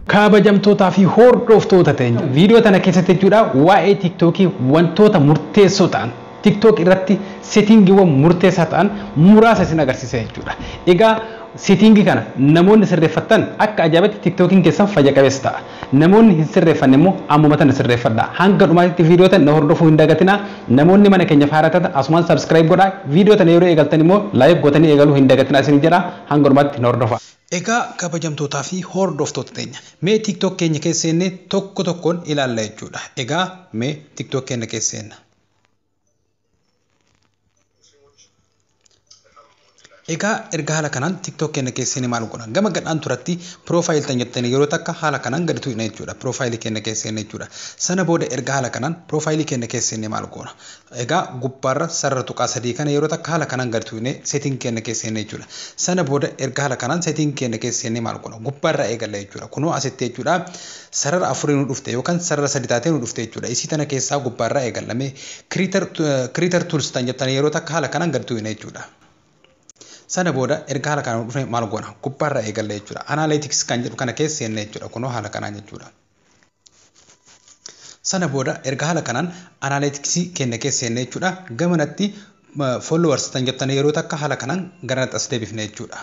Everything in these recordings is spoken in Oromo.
kabajamtootaa fi hordoftoota teenya viidiyoo tana keessatti jechuudha waa'ee tiktookii wantoota murteessoo ta'an tiktook irratti seetiingiiwwan murteessaa ta'an muraasa isin agarsiisa jechuudha egaa seetiingii kana namoonni sirreeffattan akka ajaa'ibaatti tiktookiin keessan fayya qabeessa ta'a Namoonni hin sirreeffanne immoo ammuma tana sirreeffadhaa. Hanga dhumaatitti viidiyoo tana na hordofuu hin dagatinaa. Namoonni mana keenyaf haaraa taatan asumaan subscribe godhaa. Viidiyoo tana yeroo eegaltan immoo like gootanii eegaluu hin dagatinaa isiniin jedhaa. Hanga dhumaatti na hordofaa. Egaa kabajamtootaa fi hordoftoota teenya mee tiktok keenya keessa seennee tokko tokkoon ilaalla jechuudha. Egaa mee tiktok keenna keessa seenna. Egaa erga haala kanaan TikTok keenya keessanii maal godhan gama gadhaan turatti profile tan jettanii yeroo takka haala kanaan gadi tuqna jechuudha profile keenya keessanii jechuudha sana booda erga haala kanaan profile keenya keessanii maal goona egaa gubbaarra sarara tuqaa sadii kana yeroo takka haala kanaan gadi tuqne setting keenya keessanii jechuudha sana booda erga haala kanaan setting keenya keessanii maal goona gubbaarra eegalla jechuudha kunoo asitti jechuudha Sarara afurii nu dhufte yookan sarara sadi taatee nu dhufte jechuudha. Isii tana keessaa gubbaa irraa eegalla. Mee creator, creator tools tan jettan yeroo takka haala kanaan gad tuuyna jechuudha. Sana booda erga haala kanaan nu dhufne maal goona? Gubbaa irraa eegalla jechuudha. Analytics kan jedhu kana keessa seenna jechuudha. Kunoo haala kanaan jechuudha. Sana booda erga haala kanaan analytics keenya keessa seenna jechuudha. Gamanatti followers tan jettan yeroo takka haala kanaan garanatti as deebifna jechuudha.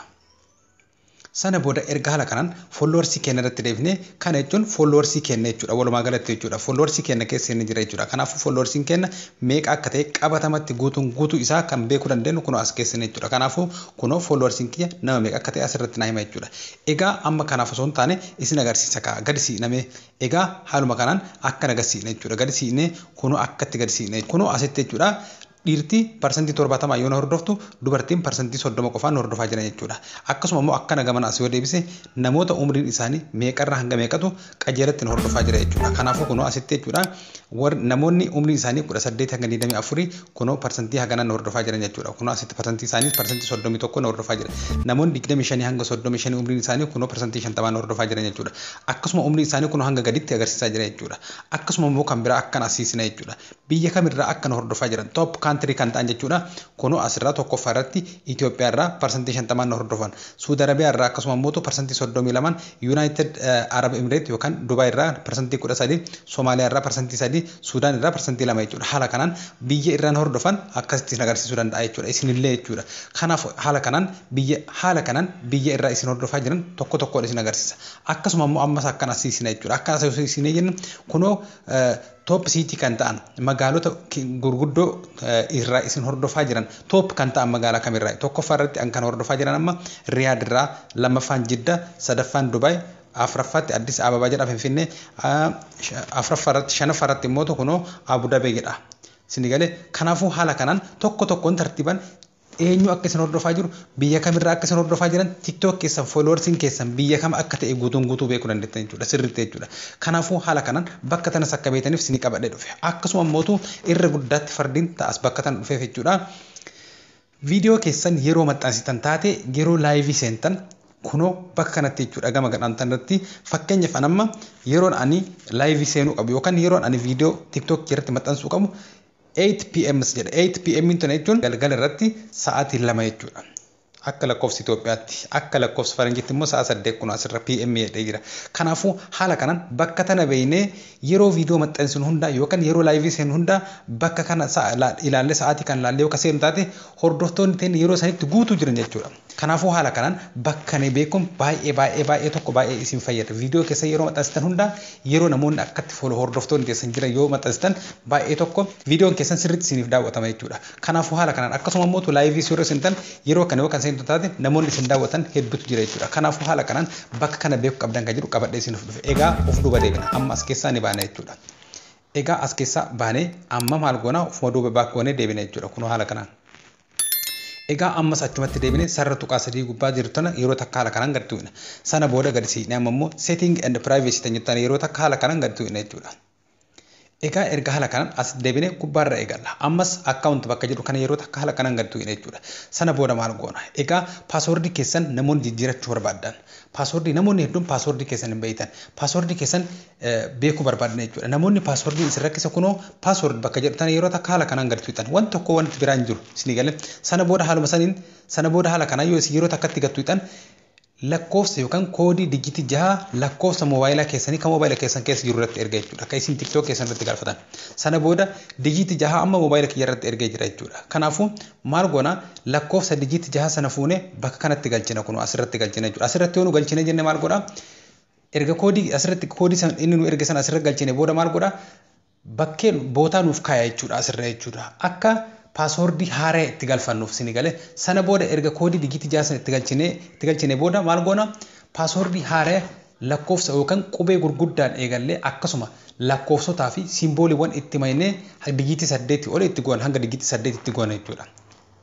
Sana booda erga haala kanaan followers keenna irratti deebifne kana jechuun followers keenna jechuudha walumaa galatti jechuudha followers keenna keessa inni jira jechuudha kanaafuu followers keenna meeqa akka ta'e qabatamatti guutuun guutuu isaa kan beekuu dandeenyu kunoo as keessan jechuudha kanaafuu kunoo followers kiyya nama meeqa akka ta'e asirratti naa hima jechuudha egaa amma kanaaf osoo hin taane isin agarsiisa kaa gadi siiqnamee egaa haaluma kanaan akka naga siiqne jechuudha gadi siiqnee kunoo akkatti gadi siiqne kunoo asitti jechuudha Dhiirti parsantii 70 yoo na hordoftu dubartiin parsantii 30 qofaan nu hordofaa jira jechuudha. Akkasuma immoo akkana gamana as yoo deebise namoota umriin isaanii meeqarra hanga meeqatu qajeelatti nu hordofaa jira jechuudha. Kanaafuu kunoo asitti jechuudha warri namoonni umriin isaanii 18 hanga 24 kunoo parsantii haganaan nu hordofaa jiran jechuudha. Kunoo asitti parsantii isaaniis parsantii 31 nu hordofaa jira. Namoonni 25 hanga 35 umriin isaanii kunoo parsantii 50 nu hordofaa jiran jechuudha. Akkasuma umriin isaanii kunoo hanga gaditti agarsiisaa jira jechuudha. Akkasuma immoo kan biraa akkan asiisina jechuudha. Biyya kam irraa akka nu hordofaa jiran, top country kan ta'an jechuudha. Kunoo as irraa 1ffaa irratti Itoophiyaa irraa parsantii 50n nu hordofan. Suud Arabiyaa irraa akkasuma immoo parsantii 32n, United Arab Emirate yookaan Dubai irraa parsantii 13, Somaaliyaa irraa parsantii 3, Suudaan irraa parsantii 2 jechuudha. Haala kanaan biyya irraa nu hordofan akkasitti isin agarsiisuu danda'a jechuudha. Isin illee jechuudha. Kanaaf haala kanaan biyya haala kanaan biyya irraa isin hordofaa jiran tokko tokkoon isin agarsiisa. Akkasuma immoo ammas akkan as hiisina jechuudha. Akkan as hiisina jennu kunoo Top city kan ta'an magaalota gurguddoo irraa isin hordofaa jiran top kan ta'an magaalaa kam irraa? Tokkoffaa irratti an kan hordofaa jiran amma Riyaad irraa, lammaffaan Jidda, sadaffaan Dubai, afraffaatti Addis Ababa jedha Finfinnee, afraffaa irratti shanaffaa irratti immoo kunoo Abu Dhabi jedha. Isin galee kanaafuu haala kanaan tokko tokkoon tartiiban Eenyu akka isin hordofaa jiru, biyya kam irraa akka isin hordofaa jiran, tiktok keessan followers keessan biyya kam akka ta'e guutuun guutuu beekuu dandeettan jechuudha sirriitti jechuudha. Kanaafuu haala kanaan bakka tanas akka beektaniif isinii qabadhee dhufe. Akkasuma ammootu irra guddaatti fardiin ta'as bakka tana dhufeef jechuudha. Viidiyoo keessan yeroo maxxansitan taate yeroo laayivii seentan kunoo bakka kanatti jechuudha gama gadhaan tanarratti fakkeenyaaf an amma yeroon ani laayivii seenuu qabu yookaan yeroon ani viidiyoo tiktok irratti maxxansuu qabu Eight pm si jedha. Eight pm tana jechuun galgala irratti sa'aatii lama jechuudha. Akka lakkoofsa Itoophiyaatti. Akka lakkoofsa Faranjiitti immoo sa'a saddeet kun asirra pm jedhee jira. Kanaafuu haala kanaan bakka tana beeknee yeroo viidiyoo maxxansinu hundaa yookaan yeroo laayivii seenu hundaa bakka kana ilaallee sa'aatii kan ilaallee yoo ka seenu taate hordoftoonni teenya yeroo sanitti guutuu jiran jechuudha. Kanaafuu haala kanaan bakkane beekun baay'ee baay'ee baay'ee tokko baay'ee isin fayyada. Video keessan yeroo maxxansitan hundaa yeroo namoonni akkatti follow hordoftoonni keessan jiran yoo maxxansitan baay'ee tokko videon keessan sirriitti isiniif daawwatama jechuudha. Kanaafuu haala kanaan akkasuma immoo tu live yeroo seentan yeroo kana yoo kan seentu taate namoonni isin daawwatan hedduutu jira jechuudha. Kanaafuu haala kanaan bakka kana beeku qabdan kan jedhu qabadhee isiniif dhufe. Egaa of duuba deebina. Amma as keessaa ni baana jechuudha. Egaa as keessaa baanee amma maal goona ofuma duuba baak goonee deebina jechuudha. Kunoo haala kanaan. Egaa ammas achumatti deebine sarara tuqaa sadii gubbaa jirtu tana yeroo takka haala kanaan gad tuqna. Sana booda gadi siqnee amma immoo setting and privacy tan jettu tana yeroo takka haala kanaan gadi tuqna jechuudha. Egaa erga haala kanaan as deebine gubbaarra eegalla. Ammas account bakka jedhu kana yeroo takka haala kanaan gadi tuqna jechuudha. Sana booda maal goona? Egaa password keessan namoonni jijjiirachuu barbaaddan. Password namoonni hedduun password keessan hin beektan. Password keessan beekuu barbaadna jechuudha. Namoonni paaswordiin isin rakkisa kunoo paasword bakka jedhu tana yeroo takka haala kanaan gad tuqxan wanti tokko wanti biraa hin jiru isinii galee sana booda haaluma saniin sana booda haala kanaan yoo isin yeroo takkatti gad tuqxan lakkoofsa yookaan koodii dijitii jaha lakkoofsa moobaayilaa keessanii kan moobaayila keessan keessa jiru irratti erga jechuudha. Akka isin tiktook keessan irratti galfatan. Sana booda dijitii jaha amma moobaayila kiyya irratti ergee jira jechuudha. Kanaafuu maal goona lakkoofsa dijitii jaha sana fuune bakka kanatti galchina kun asirratti galchina jechuudha. Asirratti yoo nu galchina jenne maal godha Erga koodii asirratti koodii san inni nu erge sana asirra galchine booda maal godha bakkee bootaa nuuf kaaya jechuudha asirra jechuudha akka paaswoordii haaraya itti galfannuuf sini gale sana booda erga koodii digiitii ja'a sana itti galchine itti galchine booda maal goona paaswoordii haaraya lakkoofsa yookaan qubee gurguddaan eegallee akkasuma lakkoofsotaa fi simbooliiwwan itti maynee digiitii saddeetii oli itti goona hanga digiitii saddeetii itti goona jechuudha.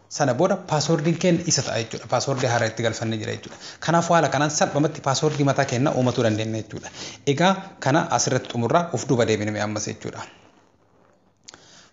Sana booda password'n keenna isa ta'a jechuudha. Password haara itti galfanne jira jechuudha. Kanaafuu haala kanaan salphamatti password mataa keenna uumatuu dandeenna jechuudha. Egaa kana as irratti xumurra uf duuba deebina mee ammas jechuudha.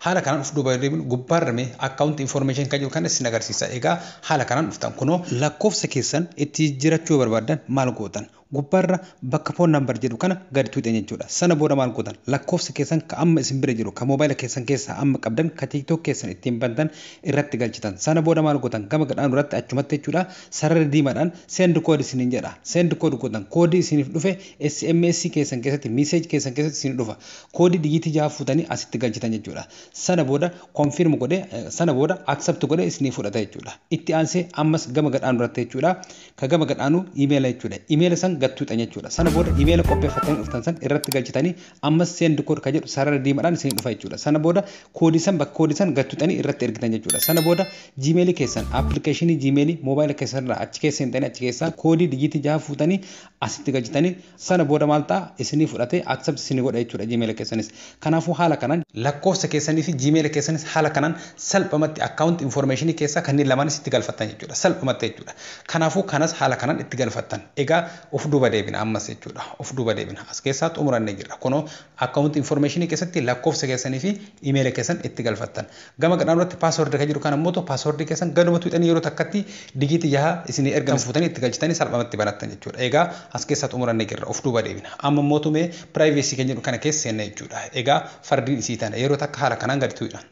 Haala kanaan uf duuba deebinu gubbaarra mee account information kan jiru kana isin agarsiisa. Egaa haala kanaan dhuftan kunoo. Lakkoofsa keessan itti jijjiirachuu yoo barbaaddan maal gootan? gubbaarra bakka phone number jedhu kana gadi tuuxxan jechuudha. Sana booda maal gootan lakkoofsa keessan ka amma isin bira jiru ka mobile keessan keessaa amma qabdan ka tiktok keessan ittiin bantan irratti galchitan. Sana booda maal gootan gama gadhaanu irratti achumatti jechuudha sarara diimadhaan send code isiniin jedha. Send code gootan koodii isiniif dhufe sms keessan keessatti message keessan keessatti isinii dhufa. Koodii dijiitii 6 fuutanii asitti galchitan jechuudha. Sana booda confirm godhe sana booda accept godhe isinii fudhata jechuudha. Itti aansee ammas gama gadhaanu irratti jechuudha Ka gama gad aanu emaila jechuudha. Emaila san gad tuuxan jechuudha. Sana booda emaila qopheeffattanii dhuftan san irratti galchitanii ammas send code ka jedhu sarara diimadhaan isinii dhufa jechuudha. Sana booda koodii san bakka koodii san gad tuuxanii irratti ergitan jechuudha. Sana booda gmail keessan application gmail mobile keessan irraa achi keessa seentanii achi keessaa koodii dijiitii jaha fuutanii asitti galchitanii Sana booda maal ta'a? Isinii fudhatee accept isinii godha jechuudha gmail keessanis. Kanaafuu haala kanaan. Lakkoofsa keessanii fi gmail keessanis haala kanaan salphamatti account information keessaa kanneen lamaanis itti galfattan jechuudha. Salphumatti jechuudha. Kanaafuu kanas haala kanaan itti galfattan. Egaa of duuba deebina ammas jechuudha. Of duuba deebina. As keessaa xumurannee jirra. Kunoo account information keessatti lakkoofsa keessanii fi email keessan itti galfattan. Gama gadhaan irratti password kan jedhu kan ammoo ta'u password keessan gaduma tuqxanii yeroo takkatti digiitii jaha isinii ergame fuutanii itti galchitanii salphamatti banattan jechuudha. Egaa as keessaa xumurannee jirra. Of duuba deebina. Amma mootu mee privacy kan jedhu kana keessa seenna jechuudha. Egaa fardiin isii tana yeroo takka haala kanaan gadi tuqna.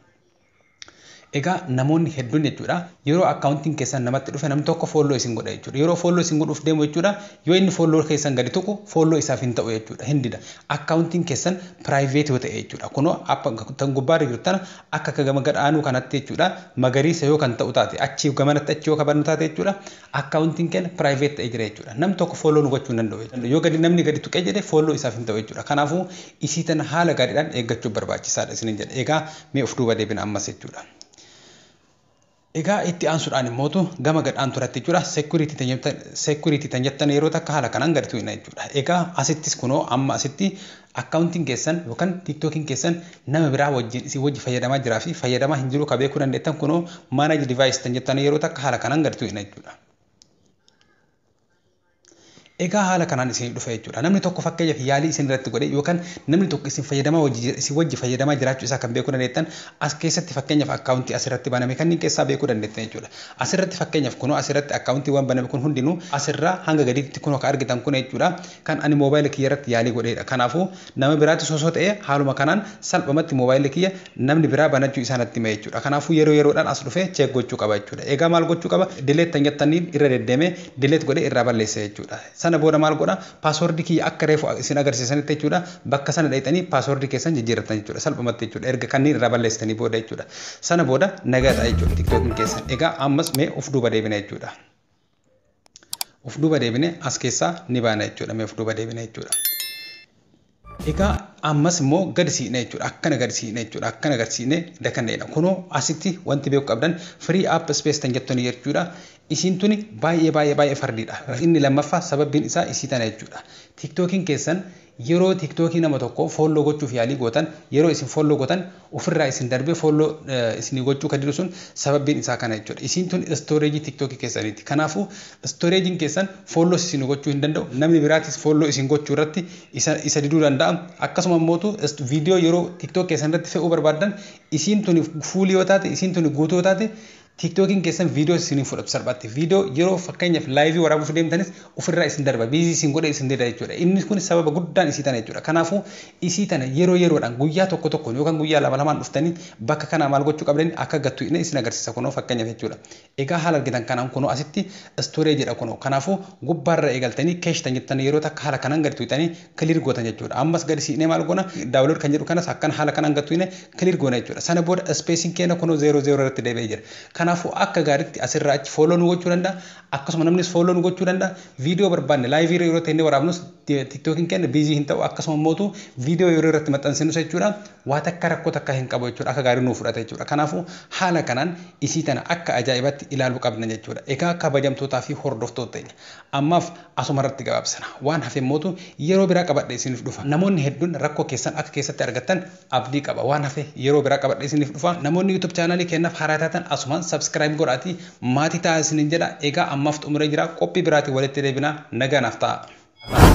Egaa namoonni hedduun jechuudha yeroo akkaawuntiin keessan namatti dhufe namni tokko foolloo isin godha jechuudha. Yeroo foolloo isin godhuuf deemu jechuudha yoo inni foolloo keessan gadi tuqu foolloo isaaf hin ta'u jechuudha hin dida. Akkaawuntiin keessan private yoo ta'e jechuudha. Kunoo app tan gubbaa irra jirtu tana akka akka gama gad aanuu kanatti jechuudha magariisa yoo kan ta'u taate achii gamanatti achi yoo kabannu taate jechuudha accountin keenya private ta'ee jira jechuudha. Nam tokko follow nu gochuu hin danda'u jechuudha. Yoo gadi namni gadi tuqee jedhe follow isaaf hin ta'u jechuudha. Kanaafuu isii tana haala gaariidhaan eeggachuu barbaachisaadha isinin jedha. Egaa mee of duuba deebina ammas jechuudha. Egaa itti aansudhaan immootu gama gad aantu irratti jechuudha security tan jettan security tan jettan yeroo takka haala kanaan gad tu'ina jechuudha. Egaa asittis kunoo amma asitti accountin keessan yookan tiktokin keessan nama biraa wajjin isin wajji fayyadamaa jiraa fi fayyadamaa hin jiruu ka beekuu dandeettan kunoo manage device tan jettan yeroo takka haala kanaan gad tu'ina jechuudha. Egaa haala kanaan isinii dhufa jechuudha. Namni tokko fakkeenyaaf yaalii isin irratti godhe yookaan namni tokko isin fayyadamaa wajji jira isin wajji fayyadamaa jiraachuu isaa kan beekuu dandeettan as keessatti fakkeenyaaf akkaawuntii as irratti baname kanniin keessaa beekuu dandeettan jechuudha. As irratti fakkeenyaaf kunoo as irratti akkaawuntiiwwan baname kun hundinuu as irraa hanga gadiitti kunoo ka argitan kun jechuudha kan ani moobaayila kiyya irratti yaalii godheedha. Kanaafuu nama biraattis osoo ta'ee haaluma kanaan salphumatti moobaayilli kiyya namni biraa banachuu isaa natti hima jechuudha. Kanaafuu yeroo yeroodhaan as dhufee check gochuu qaba jechuudha. Eegaa maal gochuu qaba? Delete tan jettaniin irra deddeemee delete godhee irraa balleessa jechuudha. Sana booda maal godha? Password kiyya akka reefu isin agarsiisanitti jechuudha bakka sana dhayxanii password keessan jijjiirrattan jechuudha. Salphumatti jechuudha. Erga kanniin irraa balleessitanii booda jechuudha. Sana booda nagaa ta'a jechuudha tiktokiin keessan. Egaa ammas mee of duuba deebina jechuudha. of duuba deebine as keessaa ni baana jechuudha mee of duuba deebine jechuudha. Egaa ammas immoo gadi siqne jechuudha akkana gadi siqne jechuudha akkana gadi siqne dakanna jedha kunoo asitti wanti beeku qabdan free app space tan jettu ni jechuudha isiin tuni baay'ee baay'ee baay'ee fardiidha inni lammaffaa sababbiin isaa isii tana jechuudha tiktookiin keessan Yeroo tiktoki nama tokko follow gochuuf yaalii gootan yeroo isin follow gotan ofirraa isin darbee follow isinii gochuu ka didu sun sababbiin isaa kana jechuudha isiin tun storage tiktoki keessaniiti kanaafu storage keessan follows isinii gochuu hin danda'u namni biraatis follow isin gochuu irratti isa isa diduu danda'a akkasuma ammootu video yeroo tiktoki keessan irratti fe'uu barbaaddan isiin tuni fuuli yoo taate isiin tuni guutuu yoo taate Tiktookiin keessan viidiyoos isin hin fudhatu salphaatti. Viidiyoo yeroo fakkeenyaaf laayivii waraabuuf deemtanis ofirraa isin darba. Biizii isin godhee isin dida jechuudha. Inni kun sababa guddaan isii tana jechuudha. Kanaafuu isii tana yeroo yeroodhaan guyyaa tokko tokkoon yookaan guyyaa lama lamaan dhuftanii bakka kanaa maal gochuu qabdanii akka gattu inni isin agarsiisa kunoo fakkeenyaaf jechuudha. Egaa haala argitan kanaan kunoo asitti istoree jedha kunoo. Kanaafuu gubbaarra eegaltanii keeshtan jettan yeroo takka haala kanaan gadi tuqxanii clear gootan jechuudha. Ammas gadi siqnee maal goona download kan jedhu kanas akkan haala kanaan gad tuqne clear goona jechuudha. Sana booda spacing keenya kunoo 00 irratti deebi'ee jira. Kanaafuu akka gaariitti asirraa achi follow nu gochuu danda'a. Akkasuma namnis follow nu gochuu danda'a. Viidiyoo barbaanne live irra yeroo teennee waraabnus tiktokiin keenya busy hin ta'u akkasuma mootu viidiyoo yeroo irratti maxxansinus jechuudha waa takka rakkoo takka hin qabu jechuudha akka gaarii nuu fudhata jechuudha. Kanaafuu haala kanaan isii tana akka ajaa'ibaatti ilaaluu qabna jechuudha. Egaa kabajamtootaa fi hordoftoota teenya Ammaaf asuma irratti gabaabsina. Waan hafe immootu yeroo biraa qabadhee isiniif dhufa. Namoonni hedduun rakkoo keessan akka keessatti argattan abdii qaba. Waan hafe yeroo biraa qabadhee isiniif dhufa. Namoonni YouTube channel keennaaf haaraa taatan asumaan subscribe godhaatii maatii ta'aa isiniin jedha. Egaa ammaaf xumuree jira. Qophii biraatiin walitti deebina. Nagaa naaf ta'aa.